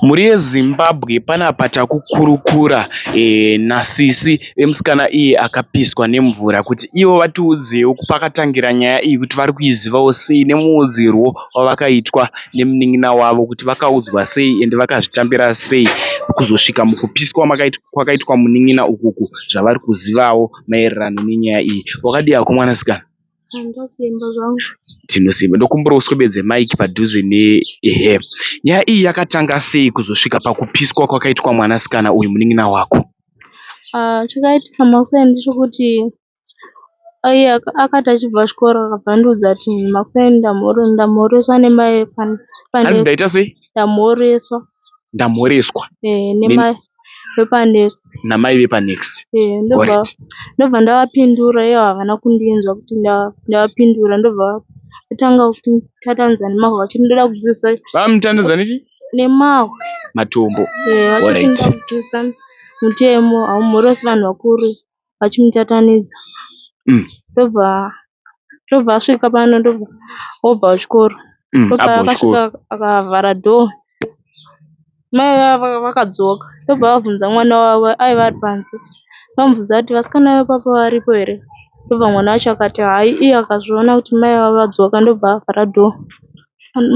Mhuri yeZimbabwe panapa takukurukura nasisi vemusikana iye akapiswa nemvura kuti ivo vatiudzewo pakatangira nyaya iyi kuti vari kuizivawo sei nemuudzirwo wavakaitwa nemunin'ina wavo kuti vakaudzwa sei ende vakazvitambira sei kuzosvika mukupiswa kwakaitwa munin'ina uku zvavari kuzivawo maererano nenyaya iyi. Wakadii hako mwanasikana? Tinosimba ndokumbira uswededze mic padhuze ne her. Nyaya iyi yakatanga sei kuzosvika pakupiswa kwakaitwa mwanasikana uyu munin'ina wako? Chakaitika makuseni ndechekuti aive akati achibva kuchikoro akabva andiudza kuti makuseni ndamhoreswa nemai vekwana. Hanzi ndaita sei? Ndamhoreswa. ndamhoreswa namai vepanext ndobva ndavapindura ivo havana kundinzwa kuti ndavapindura ndobva vatanga kuti tatandza nemahwa vachiti ndoda kudzidzisa vamutandadza nechi nemahwa matombo vachiti ndoda kudzidzisa mutemo haumhorosi vanhu vakuru vachimuchatanidza ndobva ndobva asvika pano ndobva obva kuchikoro ndopavakasvika akavhara door mai vavo vakadzoka ndobva vabvunza mwana wavo aiva ari panze ndokubvunza kuti vasikana vepapa varipo here ndobva mwana wacho akati hayi iye akazviona kuti mai vavo vadzoka ndobva avhara door.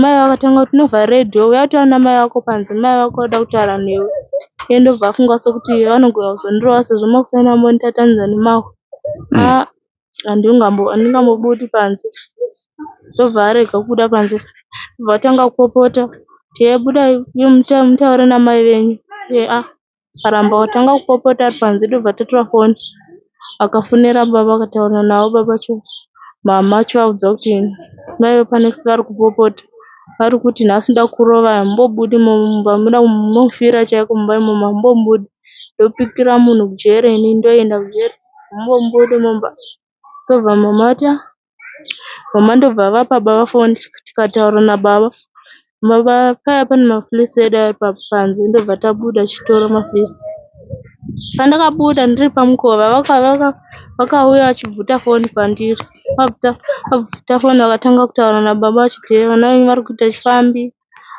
Mai avo vakatanga kuti unovhara radio uya kutaura namai vako panze mai vako vanoda kutaura newe iye ndobva afunga sekuti vanogona kuzondirova sezvo makuseni vambonditatanyidza nemahwa aa handingambobudi panze ndobva arega kubuda panze ndobva atanga kupopota kuti heyi budai mutaure namai venyu aa. akaramba akatanga kupopota ari panze tobva tatora foni akafonera baba akataura navo baba vacho mhamha vachivaudza kuti mai vepaNext vari kupopota vari kuti nhasi ndoda kukurova hamumbobudi mumba munoda munofira chaiko mumba imomo hamumbobudi ndopikira munhu kujeri ini ndoenda kujeri hamumbobudi mumba ndokubva mhamha vati ah. Mama ndobva avapa baba foni tikataura nababa. Baba paiya pane mafilisi edu aya panze ndobva tabuda tichitora mafilisi. Pandakabuda ndiri pamukova vakauya vachibvuta foni pandiri. Vabvuta foni vakatanga kutaura nababa vachiti vana venyu vari kuita chifambi,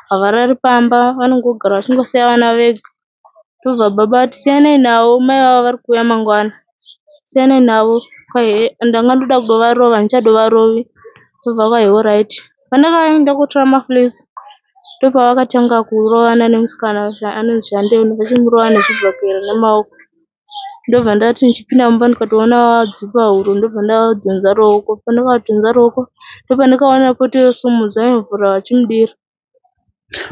havarari pamba vanongogara vachingosiya vana vega. ndobva baba vati siyanai navo mai vavo vari kuuya mangwana siyanai navo kwahi ndanga ndoda kuvarova handichavarovi ndobva kwahi horaiti pandakaenda kotora mafilisi ndopavakatanga kurovana nemusikana uyu anonzi Shandenuka vachimurova nezvibhakera nemaoko ndobva ndati ndichipinda mumba ndikatoona vadzipa huro ndobva ndavadhonza ruoko pandakavadhonza ruoko ndopandakaona poto yosimudza yovhura vachimudira.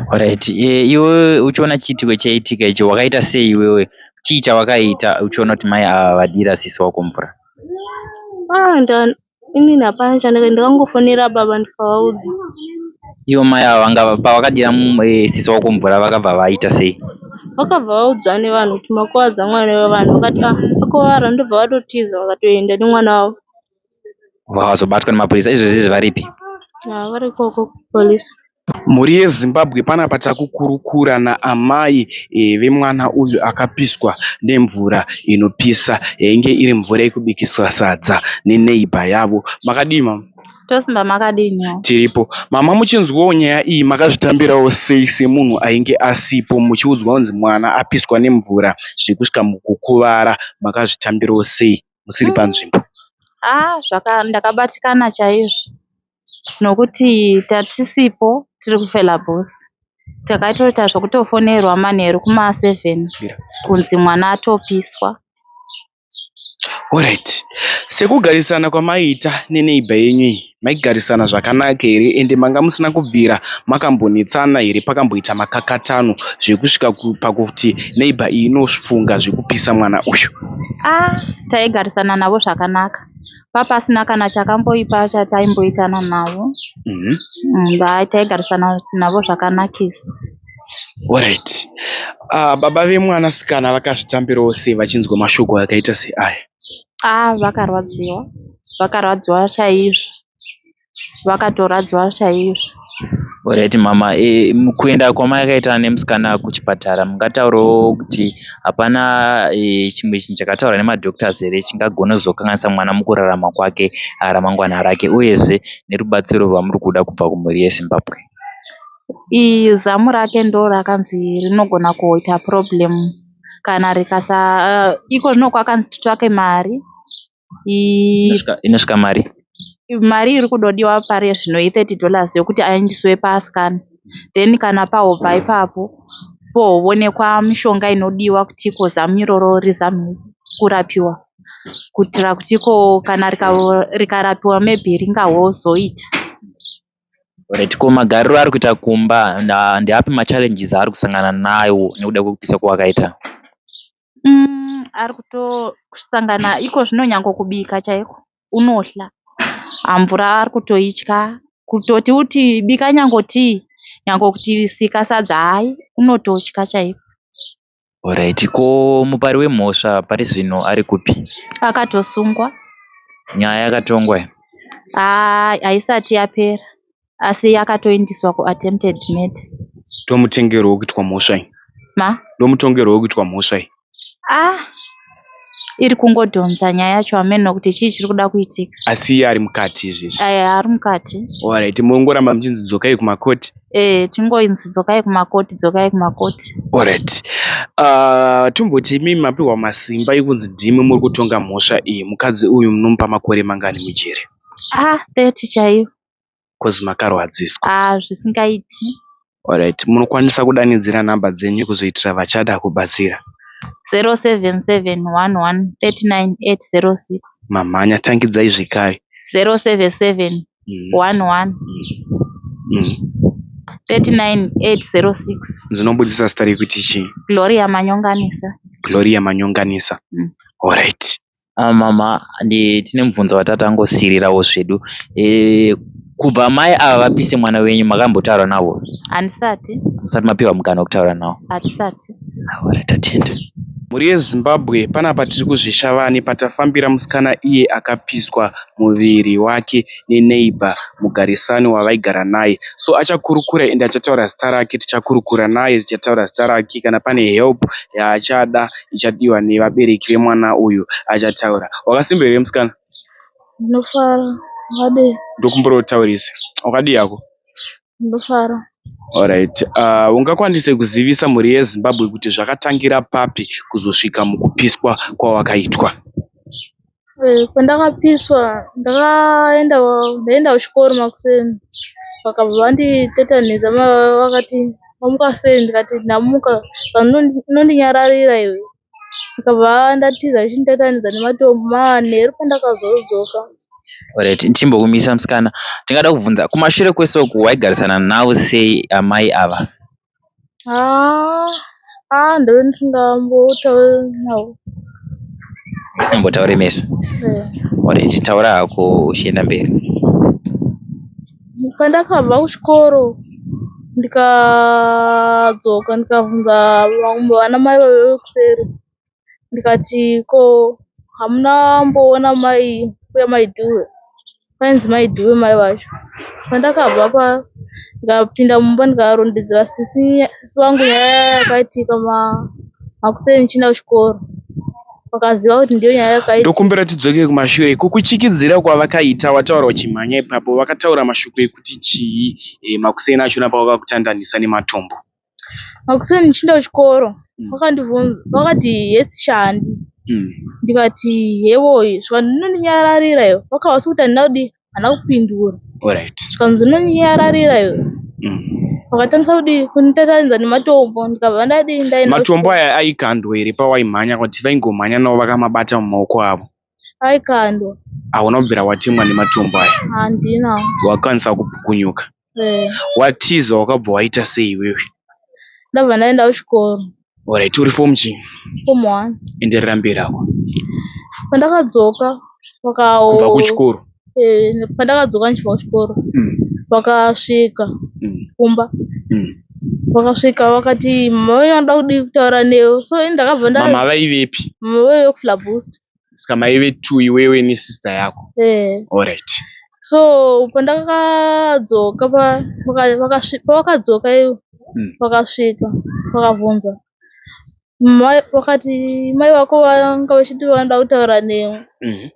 Horaiti iwe uchiona chiitiko chaitika ichi wakaita sei iwewe chii chawakaita uchiona kuti mai ava vadira sisi wako mvura ah inini hapana chandakaita ndakangofonera baba ndikavaudza ivo mai ava vanga pavakadira eh, sisi wako mvura vakabva vaita sei vakabva vaudzwa nevanhu kuti makuvadza mwana wevanhu vakati ah vakuvara ndobva vatotiza vakatoenda nemwana wavo vakazobatwa nemapurisa izvezvi varipi vari ikoko kupolice. Mhuri yeZimbabwe panapa takukurukura naamai vemwana uyu akapiswa nemvura inopisa yainge iri mvura yekubikisa sadza neneighbor yavo. Makadii mama? Tosimba makadii nhayi? Tiripo. Mama muchinzwawo nyaya iyi makazvitambirawo sei semunhu ainge asipo muchiudzwa kunzi mwana apiswa nemvura zvekusvika mukukuvara makazvitambirawo sei? musiri panzvimbo. Haa ndakabatikana chaizvo nokuti tatisipo tiri kuFelabos takatoita zvekutofonerwa manheru kumaseven kunzi mwana atopiswa. Sekugadzirisa kwamaiita neneighbor yenyu iyi. maigarisana zvakanaka here ende manga musina kubvira makambonetsana here pakamboita makakatanw zvekusvika pakuti neighbor iyi inofunga zvekupisa mwana uyu. Ah taigarisana navo zvakanaka papasina kana chakamboipa chataimboitana navo mm -hmm. taigarisana navo zvakanakisa Alright. Uh, baba vemwanasikana vakazvitambirawo sei vachinzwa mashoko akaita seaya? aa vakarwadziwa vakarwadziwa chaizvo vakatorwadziwa chaizvo horaiti mhamha kuenda kwamakaita nemusikana kuchipatara mungataurawo kuti hapana chimwe chinhu chakataurwa nemadhokutazi here chingagona kuzokanganisa mwana mukurarama kwake ramangwana rake uyezve nerubatsiro rwamuri kuda kubva kumhuri yezimbabwe ii zamu rake ndorakanzi rinogona kuita purobhuremu kana rikasa iko zvino kwakanzi titsvake mari inosvika mari mari iri kudodiwa pari zvino i 30 dollars yekuti aendeswe pascan then kana pahobva ipapo pohovonekwa mishonga inodiwa kuti iko zamu iroro rizame kurapiwa kuitira kuti iko kana rikarapiwa maybe ringahozoita Alright ko magariro aari kuita kumba ndeapi ma challenges aari kusangana nawo nekuda kwekupisa kwawakaita? Umm ari kutosangana iko zvino nyangwe kubika chaiko unohla mvura ari kutoitya kutoti uti bika nyangwe tii nyangwe kuti sika sadza hayi unototya chaiko. Horaiti ko mupari wemhosva pari zvino ari kupi? Akatosungwa. Nyaya yakatongwa here? Haa haisati yapera asi akatoindiswa kuattempted murder. Ndomutongerwo wekuitwa mhosva iyi. Ma? Ndomutongerwo wekuitwa mhosva iyi. Ah! iri kungodhonza nyaya yacho hameno kuti chii chiri kuda kuitika. Asi iye ari mukati izvezvi? Ehe ari mukati. Alright mongoramba muchinzi dzokai kumakoti? Ehe tingonzi dzokai kumakoti dzokai kumakoti. Alright. Uh, tomboti imi mapiwa masimba ekunzi ndimi muri kutonga mhosva iyi mukadzi uyu munomupa makore mangani mujeri? Ah 30 chaiyo. coz makarwadziswa. Ahh zvisingaiti. Alright munokwanisa kudanidzira number dzenyu kuzoitira vachada kubatsira. 0771139806. Mamhanya tangidzai zvekare. 0771139806. Dzinobudisa zita rekuti chii? Gloria Manyonganisa. Gloria Manyonganisa. Mm. Alright. mhamha tine mubvunzo watati tangosiriravo zvedu. Kubva mai ava vapise mwana wenyu makambotaura navo? Handisati. Musati mapiwa mukana wekutaura navo? Hatisati. Awara tatenda. Mhuri yeZimbabwe panapa tiri kuzvishavani patafambira musikana iye akapiswa muviri wake ne neighbour mugarisani wavaigara naye so achakurukura ende achataura zita rake tichakurukura naye tichataura zita rake kana pane help yaachada ichadiwa nevabereki vemwana uyu achataura. Wakasimba here musikana? Ndinofara. Wadii? Ndokumbira utaurisa. Wakadii hako? Ndinofara. Alright. Uh, ungakwanise kuzivisa mhuri yeZimbabwe kuti zvakatangira papi kuzosvika mukupiswa kwawakaitwa? Eh, pandakapiswa ndakaenda ndaenda kuchikoro makuseni vakabva vanditetanidza ma- vakati mamuka sei ndikati ndamuka vanondinyararira iwe ndikabva ndatiza vachinditetanidza nematombo manheru pandakazodzoka Alright, timbokumisa musikana. Tingada kubvunza kumashure kwese uku waigarisana navo sei amai ava? Haa ndave ndisingambotaure mese alright taura hako uchienda mberi. Pandakabva kuchikoro ndikadzoka ndikabvunza vamwe vanamai vaive kuseri ndikati ko hamuna kumboona mai mbuya mai Dube kwainzi mai Dube mai vacho pandakabva pa ndikapinda mumba ndikarondedzera sisi sisi vangu nyaya yakaitika ma makuseni ndichienda kuchikoro vakaziva kuti ndiyo nyaya yakaitika ndokumbira tidzoke kumashure kukuchikidzira kwavakaita wataura uchimhanya ipapo vakataura mashoko ekuti chii eh, makuseni achona pavakakutandanisa nematombo makuseni ndichienda kuchikoro vakati yes chihandi ndikati hewoyi zvikanzi zvinondinyararira iwe vakavasi kuti handina kudii handina kupindura zvikanzi zvinondinyararira iwe vakatangisa kudii kunditatanidza nematombo ndikabva ndadii ndaenda matombo aya aikandwa here pawaimhanya kuti vaingomhanya navo vakamabata mumaoko avo Aikandwa. Hauna kubvira watemwa nematombo aya? Handina. Wakwanisa kupukunyuka? Eh. Watiza wakabva waita sei iwewe? Ndabva ndaenda kuchikoro. Alright, uri form chii? Form 1. Enderera mberi apo. Pandakadzoka wakawo. Kubva kuchikoro. eh, pandakadzoka ndichibva kuchikoro mm. vakasvika mm. kumba mm. vakasvika vakati mama venyu vanoda kudii kutaura newe so ini ndakabva ndamama vaivepi mama vaive kuflabus saka maive two iwewe nesister yako eh. allright so pandakadzoka pavakadzoka ivo vakasvika vakabvunza vakati mai vako vanga vachiti vanoda kutaura newe mhm.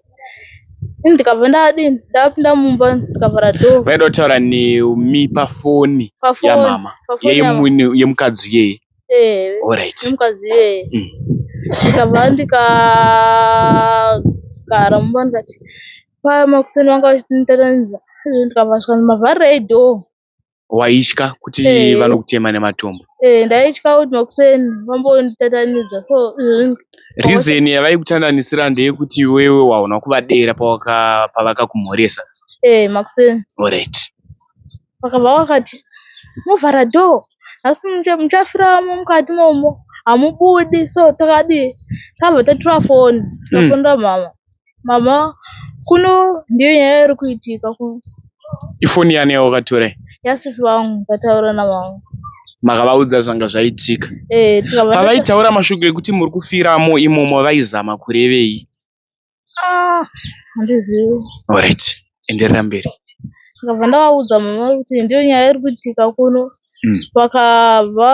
ini ndikabva ndadii ndapinda mumba ndikavhara doo vaida kutaura nemi pafoni yamama yemukadzi iyeye olright yemukadzi iyeye mm. ndikabva ndikagara mumba ndikati paya makuseni vanga vachiti nditatanidza ndikabva ndikati mavharirei doo Waitya kuti vanokutema nematombo? Ehe ndaitya kuti makuseni vambonditandanidza so izvezvi. Reason yavaikutandanisira ndeyekuti iwewe waona kuvadera pawaka pavakakumhoresa. Ehe makuseni. Alright. Vakabva vakati movhara door asi muchafiramo mukati momo hamubudi so takadii takabva tatura foni tikafonera mm. mama. Baba kuno ndiyo nyaya iri kuitika kuno. Ifoni yani yawakatora iyi? Yasisi vangu ndataura navangu. Makavaudza zvanga zvaitika? Eh, tikava Pavaitaura mashoko ekuti muri kufiramo imomo vaizama kurevei? Ah, handizivi. Alright. enderera mberi. Ndakabva ndavaudza mama kuti ndiyo nyaya iri kuitika kuno mm. vakabva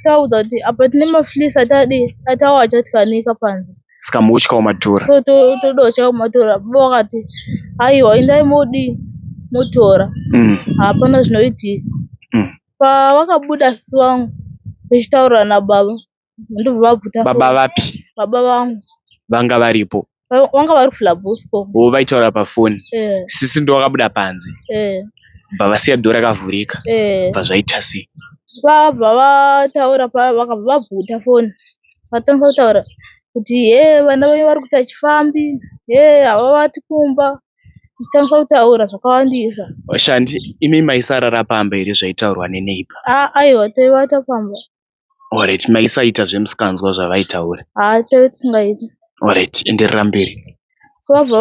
tavaudza kuti apa tine maflis atadii atawo achatyanika panze saka mukutyavo matora so todotyavo matora baba vakati aiwa indai modii motora mm. hapana zvinoitika mm. pavakabuda sisi vangu vechitaurira nababa ndobva vabvuta baba vapi baba vangu vanga varipo vanga vari kuflabusco o vaitaura pafoni eh. sisi ndo vakabuda panze eh. bva vasiya dho rakavhurika eh. bva zvaita sei vabva vataura vakabva vabvuta foni vatanga kutaura kuti he vana venyu vari kuita chifambi he havavati kumba tichitanga kutaura zvakawandisa vashandi imi maisarara pamba here zvaitaurwa neneiba aiwa taivata pamba Horaiti maisaita zvemusinganzwa zvavaitaura. Haa taive tisingaite. Horaiti enderera mberi. So vabva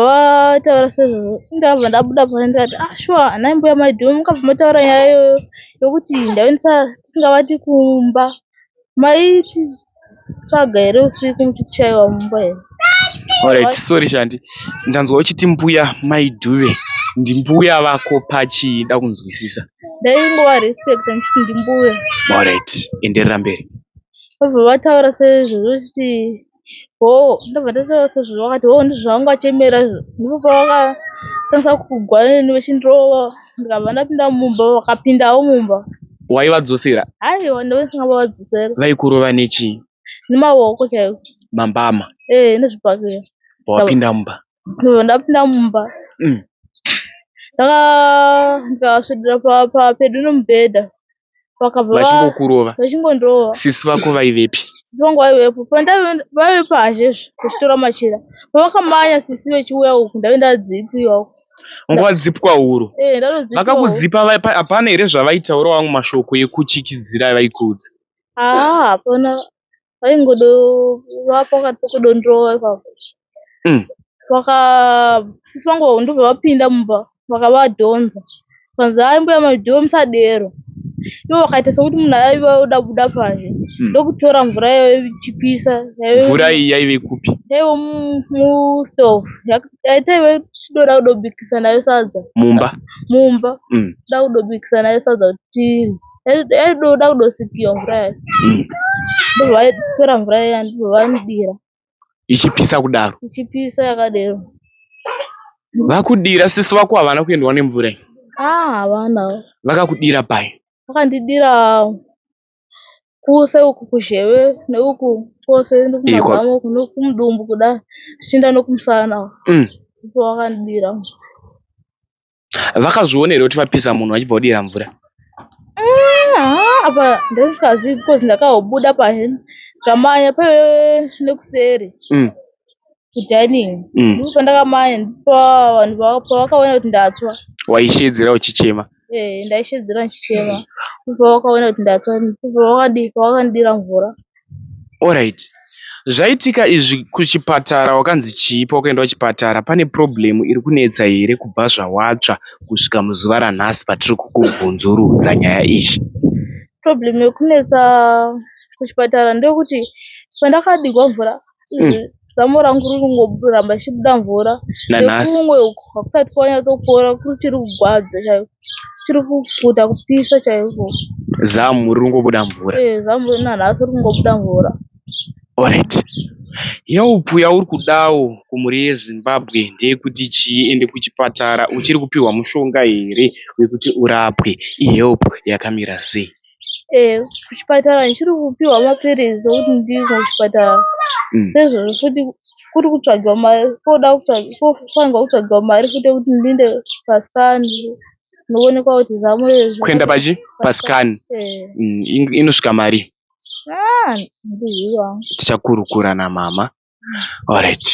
vataura sezvo ndabva ndabuda pano ndikati ah shuwa anai mbuya maidhumu mukabva mataura nyaya iyoyo yokuti ndaive tisingavati kumba maiti tsvaga here usiku muchitishaiwa mumba here. Horaiti sorry shandi ndanzwa uchiti mbuya maidhuve ndimbuya vako pachii ndakunzwisisa. ndaingova respect ndichiti ndimbuya moret enderera mberi vobva vataura sezvo zvochiti ho ndobva ndataura sezvo vakati ho ndizvo zvavanga vachemera izvo ndipo pavakatangisa kugwa neni vechindirova ndikabva ndapinda mumba vakapindawo mumba waivadzosera haiwa ndove ndisingavavadzosera vaikurova nechii nemaoko chaiko mambama ee nezvipakira pawapinda mumba ndapinda mumba mm. ndakasvedera papedu nomubhedha vachingokurova vachingondova sisi vako vaivepi sisi vangu vaivepo vaive pazhe vachitora machira pavakamanya sisi vechiuya uku ndave ndadzipiwa uku vanga vadzipwa huro eh, vakakudzipa hapana here zvavaitaura vamwe mashoko ekuchikidzira vaikuudza haa hapana vaingodova pakati pokudondirova ipapo mm. vakasisi vangu ndobva vapinda mumba vakavadhonza vanzi hai mbuya maidiwe musadero ivo vakaita sokuti munhu aiva oda buda panze hmm. ndokutora mvura yaive ichipisa mvura iyi yaive kupi yaive mustove yaitaive tichidoda kudobikisa nayo sadza mumba mumba hmm. da kudobikisa nayo sadza kuti tirye aidoda kudosipiwa mvura yacho hmm. ndobva aitora mvura iya ndobva vamudira ichipisa kudaro ichipisa yakadero vakudira sisi vako havana kuendwa nemvura iyi ah, havana vakakudira pai vakandidira kuse uku kuzheve neuku kwose nokumazamo uku nokumudumbu kuda zvichienda nokumusana uku hmm. ndipo vakandidira Vakazviona here kuti vapisa munhu vachibva vodira mvura? Apa ndazvikazivi because ndakaobuda paheni ndikamanya pe nekuseri mm. kudining mm. ndipo pandakamanya ndipo vanhu pavakaona kuti ndatswa. Waishedzera uchichema? Ee eh, ndaishedzera ndichichema ndipo pavakaona kuti ndatswa ndipo pavakandidira mvura. Alright zvaitika izvi kuchipatara wakanzi chii pawakaenda kuchipatara pane problem iri kunetsa here kubva zvawatsva kusvika muzuva ranhasi patiri kukubvunzurudza nyaya iyi. Problem iri kunetsa kuchipatara ndeyekuti pandakadikwa mvura mm. Eh, zamu rangu riri kungoramba richibuda mvura nekumwe uku hakusati kwanyatsopora kuchiri kugwadza chaiko chiri kufuta kupisa chaiko zamu riri kungobuda mvura e zamu nanhasi riri kungobuda mvura orit yaupu yauri kudawo kumhuri yezimbabwe ndeyekuti chii ende kuchipatara uchiri kupiwa mushonga here wekuti urapwe ihelp yakamira sei Ehe kuchipatara ndichiri kupihwa mapiritsi ekuti ndimwe kuchipatara seizvozvo futi kuri kutsvagiwa mari koda kofanirwa kutsvagiwa mari futi yekuti ndiende pascan ndoonekwa kuti zamo iri kuenda pachi pascan inosvika marii haa handizivi hangu tichakurukura namama horaiti.